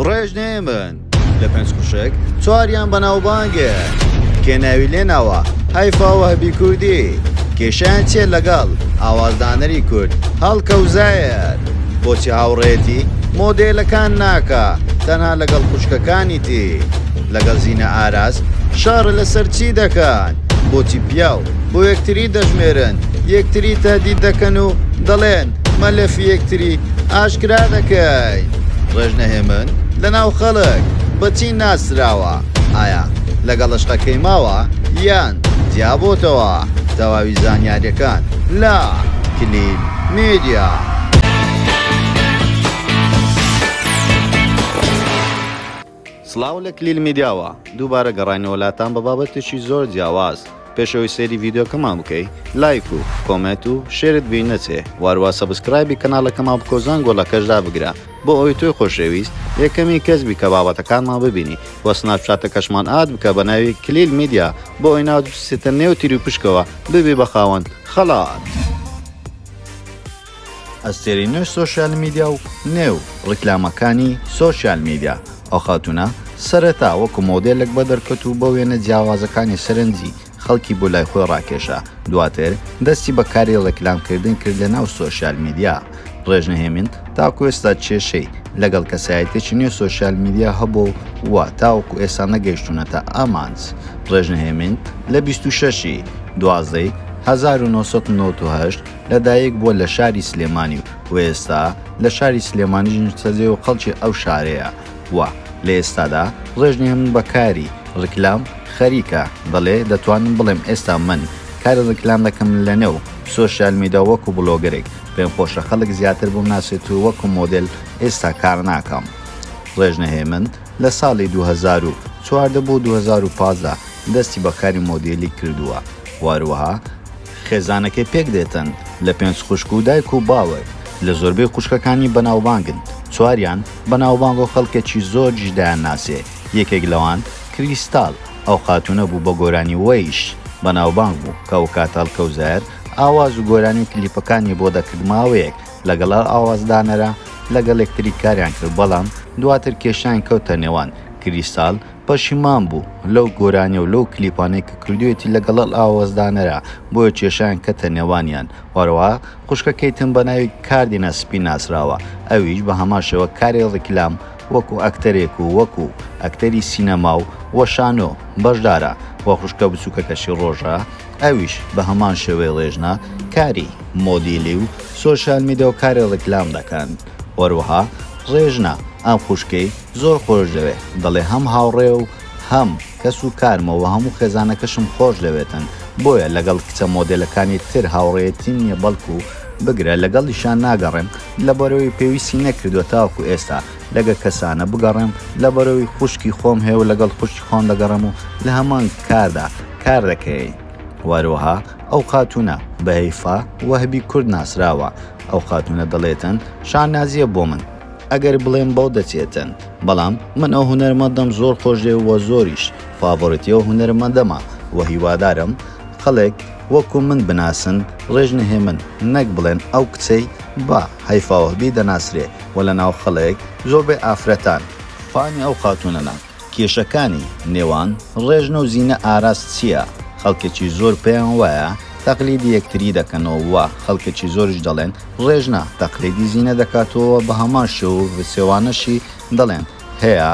ڕێژ نێمن لە پێنج خوشک چواریان بەناوبانگێ کێ ناوی لێ ناوە هایفاوە هەبی کوردی کێشیان چێ لەگەڵ ئاوازدانەری کورد هەڵکەوزایەت بۆچی هاوڕێتی مۆدێلەکان ناکە تەنها لەگەڵ خوشکەکانی تی لەگەڵ زیینە ئاراس شار لەسەر چی دەکەن بۆچی پیاو بۆ یەکتری دەژمێرن یەکتری تادی دەکەن و دەڵێن مەلەفی یەکتری ئاشکرا دەکەی ڕێژنە هێمن لە ناو خەڵک بەچی ناسراوە ئایا لەگەڵ شقەکەی ماوە یان جیابۆتەوە تەواوی زانیاریەکان لە کلیل میدیا. سڵاو لە کلیل میدیاوە، دووبارە گەڕاینەوە لاتان بە بابەتێکی زۆر جیاواز، پێش ئەوەی سەیری ڤیدیۆکەمان بکەی لایک و کۆمێت و شێرت بیر نەچێ واروا سەبسکرایبی کەنالەکەمان بکەو زەنگۆلەکەش دابگرە بۆ ئەوەی تۆی خۆشەویست یەکەمین کەس بی کە بابەتەکانمان ببینی وە سناپچاتەکەشمان ئاد بکە بە ناوی کلیل میدیا بۆ ئەوەی ناوت بچێتە نێو تیروپشکەوە ببی بە خاوەن خەڵات. ئەستێرەی نوێ سۆشیال میدیا و نێو ڕیکلامەکانی سۆشیال میدیا، ئەو خاتوونە سەرەتا وەکو مۆدێلێک بەدەرکەت و بە وێنە جیاوازەکانی سەرنجی خەڵکی بۆ لای خۆی ڕاکێشا، دواتر دەستی بە کاری ڕیکلام کردن کرد لە ناو سۆشیال میدیا. ڕێژنە هێمین تاکو ئێستا کێشەی لەگەڵ کەسایەتیەکی نوێ سۆشیال میدیا هەبووە و تاوەکو ئێستا نەگەیشتوونەتە ئامانج. ڕێژنە هێمین لە بیست و شەش ی دوازدە ی هەزار و نۆ سەد و نەوەد و هەشت، لە دایک بووە لە شاری سلێمانی و و ئێستا لە شاری سلێمانیش نیشتەجێ و خەڵکی ئەو شارەیە و لە ئێستادا ڕێژنی هەموو بە کاری ڕیکلام خەریکە، دەڵێ دەتوانم بڵێم ئێستا من کاری ڕیکلام دەکەم لە نێو سۆشیال میدیا وەکو بڵۆگەرێک، پێم خۆشە خەڵک زیاتر بمناسێت و وەکو مۆدێل ئێستا کار ناکەم. ڕێژنە هێمن لە ساڵی دوو هەزار و چواردە بۆ دوو هەزار و پازدە دەستی بە کاری مۆدێلی کردووە و هەروەها، خێزانەکەی پێک دێتن لە پێنج خوشک و دایک و باوک لە زۆربەی خوشکەکانی بەناوبانگن چواریان بەناوبانگ و خەڵکەکی زۆرجش دایانناسێ یەکێک لەوان کریستال ئەو خاتونە بوو بە گۆرانی وەیش بەناوبانگ بوو کە ئەوکات ئەلکەوزەر ئاواز و گۆرانی و کلیپەکانی بۆ دەکرد ماوەیەک لەگەڵ ئەو ئاوازدانەرە لەگەڵ یەکتری کاریان کرد بەڵام دواتر کێشەیان کەوتە نێوان کریستال پەشیمان بوو لەو گۆرانیە و لەو کلیپانەی کە کردویەتی لەگەڵ ئەل ئاوەزدانەرا بۆیە کێشەیان کەتە نێوانیان وەرەوە خوشکەکەی تن بەناوی کاردینە سپی ناسراوە ئەویش بە هەمان شێوە کاری ڕیکلام وەکو ئەکتەرێک و وەکو ئەکتەری سینەما و و شانۆ بەشدارە وە خوشکە بچوکەکەشی ڕۆژە ئەویش بە هەمان شێوەی ڕێژنە کاری مۆدیلی و سۆشیال میدە و کاری ڕیکلام دەکەن وەروەها ڕێژنە ئەم خوشکەی زۆر خۆش دەوێ دەڵێ هەم هاوڕێ و هەم کەس و کارمە وە هەموو خێزانەکەشم خۆش دەوێتن بۆیە لەگەڵ کچە مۆدێلەکانی تر هاوڕێیەتیم نیە بەڵکو بگرە لەگەڵیشیان ناگەڕێم لەبەرەوەی پێویستی نەکردوە تاوەکو ئێستا لەگە کەسانە بگەڕێم لەبەرەوەی خوشکی خۆم هەیە و لەگەڵ خوشکی خۆم دەگەڕێم و لەهەمان کاردا کار دەکەین وەروەها ئەو خاتونە بە هەیفا وەهبی کورد ناسراوە ئەو خاتونە دەڵێتن شانازیە بۆ من ئەگەر بڵێم بەو دەچێتن بەڵام من ئەو هونەرمەندەم زۆر خۆشێ وە زۆریش فاڤۆرتی ئەو هونەرمەندەمە وە هیوادارم خەڵک وەکو من بناسن ڕێژ نهێمن نەک بڵێن ئەو کچەی بە هەیفاوهبی دەناسرێ وە لە ناو خەڵک زۆربەی ئافرەتان فانی ئەو خاتونەنە. کێشەکانی نێوان ڕێژنە و زینە ئاراس چییە؟ خەڵکێکی زۆر پێیان وایە تەقلیدی یەکتری دەکەنەوە و خەڵکێکی زۆریش دەڵێن ڕێژنە تەقلیدی زینە دەکات و بە هەمان شێو و پێچەوانەشی دەڵێن هەیە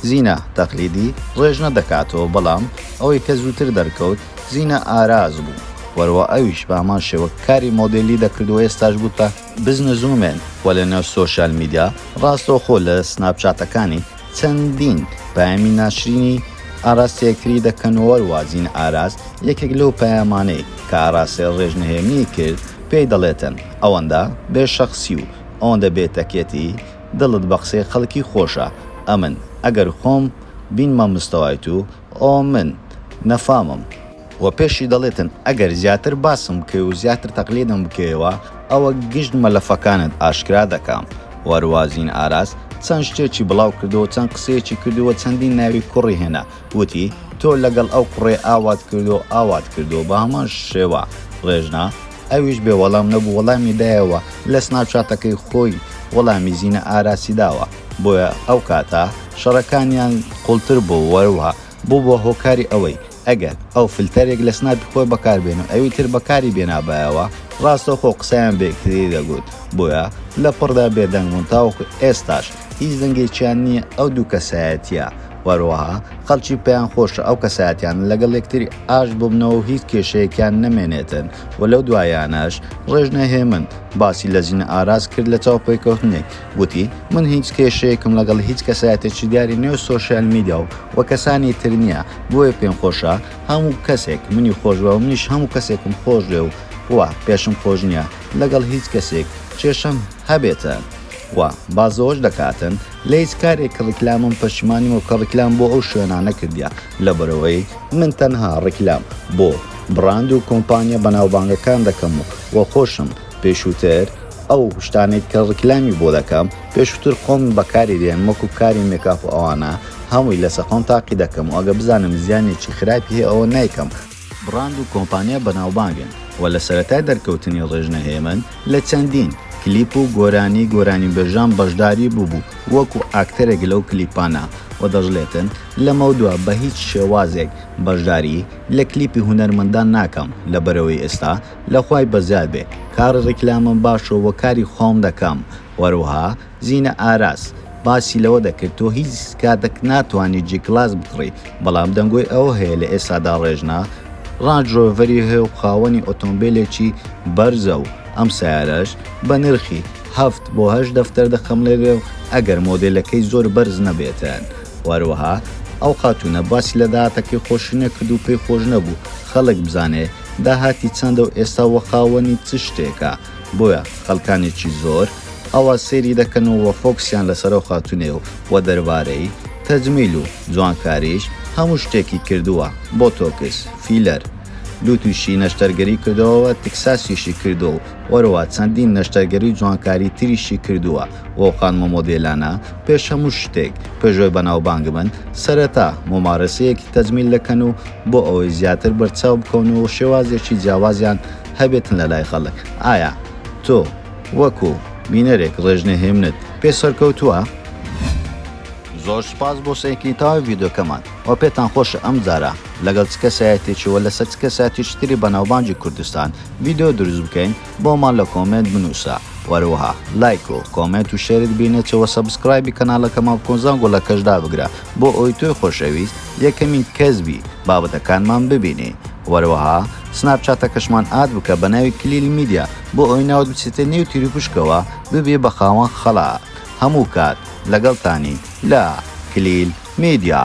زینە تەقلیدی ڕێژنە دەکات و بەڵام ئەوەی کە زووتر دەرکەوت زینە ئاراس بوو وەرەوە ئەویش بە هەمان شێوە کاری مۆدێلی دەکرد و ئێستاش بووتە بزنس وومێن و لەنێو سۆشیال میدیا ڕاستەوخۆ لە سناپ چاتەکانی چەندین پەیامی ناشرینی ئاراستەیە کری دەکەنەوەر وازین ئاراس یەکێک لەو پەیامانەی کە ئاراستەیە ڕێژ نهێنی کرد پێی دەڵێتن ئەوەندە بێ شەخسی و ئەوەندە بێ تەکێتی دڵت بە قسەی خەڵکی خۆشە ئەمن ئەگەر خۆم بینمە مستەوای تو ئەوە من نەفامم وە پێشی دەڵێتن ئەگەر زیاتر باسم بکەی و زیاتر تەقلیدم بکەیەوە ئەوە گشت مەلەفەکانت ئاشکرا دەکەم وە روازین ئاراس چەند شتێکی بڵاو کردوە و چەند قسەیەکی کردوە چەندین ناوی کوڕی هێنا وتی تۆ لەگەڵ ئەو کوڕەی ئاوات کردوە و ئاوات کردوە بە هەمان شێوە رێژنا ئەویش بێ وەڵام نەبوو وەڵامی دایەوە لە سناپچاتەکەی خۆی وەڵامی زینە ئاراسی داوە بۆیە ئەو کاتە شەڕەکانیان قوڵتر بوو وەروها بووە هۆکاری ئەوەی ئەگەر ئەو فلتەرێک لە سناپی خۆی بەکاربێن و ئەوی تر بەکاری بێنابایەوە ڕاستەوخۆ قسەیان بەیەکتری دەگوت بۆیە لە پڕدا بێدەنگ بوون تاوەکو ئێستاش هیچ دەنگێکیان نییە ئەو دوو کەسایەتیە وەروەها خەڵکی پێیان خۆشە ئەو کەساتیان لەگەڵ یەکتری ئاشت ببنەوە و هیچ کێشەیەکیان نەمێنێتن و لەو دوایانەش ڕێژنە هێمن باسی لە ژینە ئاراس کرد لە چاوپێکەوتنێک گوتی، من هیچ کێشەیەکم لەگەڵ هیچ کەسایەتێکی دیاری نێو سۆشیال میدیا و و کەسانی تر نییە، بۆیە پێم خۆشە هەموو کەسێک منی خۆشبوێ و منیش هەموو کەسێکم خۆشبوێ و و پێشم خۆش نییە لەگەڵ هیچ کەسێک کێشەم هەبێتە و بازەوەش دەکاتن لە هیچ کارێک ڕیکلامم پەشیمانیمە کە ڕیکلام بۆ ئەو شوێنانە کردیە لەبەرئەوەی من تەنها ڕیکلام بۆ بڕاند و کۆمپانیا بەناوبانگەکان دەکەم و و خۆشم پێشووتر ئەو شتانەی کە ڕیکلامی بۆ دەکەم پێشووتر خۆم بەکاری دێنم وەکو کاری مێکاپ و ئەوانە هەمووی لەسەر خۆم تاقی دەکەم و ئەگەر بزانم زیانێکی خراپی هەیە ئەوە نایکەم، بڕاند و کۆمپانیا بەناوبانگن و لە سەرەتای دەرکەوتنی ڕێژنە هێمن لە چەندین، کلیپ و گۆرانی گۆرانیبێژان بەشداری بووبوو وەکو ئاکتەرێک لەو کلیپانە و دەشڵێتن لەمەودوا بەهیچ شێوازێک بەشداری لە کلیپی هونەرمەندان ناکەم لەبەرئەوەی ئێستا لە خوای بەزیاد بێ کاری ڕیکلامم باشە وە کاری خۆم دەکەم وەروەها زینە ئاراس باسی لەوە دەکرد تۆ هیچ کاتەک ناتوانی جی کلاس بکڕی بەڵام دەنگۆی ئەوە هەیە لە ئێستادا ڕێژنە ڕانج ڕۆڤەری هەیە و خاوەنی ئۆتۆمبیلێکی بەرزە و ئەم سەیارەش بە نرخی هەفت بۆ هەشت دەفتەر دەخەم لێرێ و ئەگەر مۆدێلەکەی زۆر بەرز نەبێتن وەروەها ئەو خاتوونە باسی لە داهاتەکەی خۆشی نەکرد و پێی خۆش نەبوو خەڵک بزانێ داهاتی چەندە و ئێستا وە خاوەنی چ شتێکە بۆیە خەلکانێکی زۆر ئاوا سێری دەکەن و وە فۆکسیان لەسەر ئەو خاتونەیە و وە دەربارەی تەجمیل و جوانکاریش هەموو شتێکی کردووە بۆتۆکس فیلەر دوو توشی نەشتەرگەری کردووە وە تکساسیشی کردووە و وەرەوە چەندین نەشتەرگەری جوانکاری تریشی کردووە وۆڵکان مۆمۆدێلانە، پێش هەموو شتێک، پێشڤە بەناوبانگ بن، سەرەتا مومارەسەیەکی تەجمیل دەکەن و بۆ ئەوەی زیاتر بەرچاو بکەون و شێوازێکی جیاوازیان هەبێتن لە لای خەڵک، ئایا تۆ وەکو بینەرێک ڕێژنەهێمنت پێ سەرکەوتووە؟ زۆر سوپاس بۆ سەیرکردنی تەواوی ڤیدیۆکەمان و پێتان خۆشە ئەمجارە لەگەڵ چ کەسایەتیەکی و لەسەر چ کەسایەتیەکی تری بەناوبانگی کوردستان ڤیدیۆ دروست بکەین؟ بۆمان لە کۆمێنت بنوسە وەروەها لایک و کۆمێنت و شێرت بینێتەوە سەبسکرایبی کەناڵەکەمان بکۆن زانگۆ لە کەش دابگرە بۆ ئەوی تۆی خۆشەویست یەکەمین کەس بی بابەتەکانمان ببینی وەروەها سناپچاتەکەشمان ئاد بکە بە ناوی کلیل میدیا بۆ ئەوی ناوت بچێتە نێو تیروپشکەوە ببی بە خاوەن خەڵا هەموو کات لەگەڵتانی لە کلیل میدیا.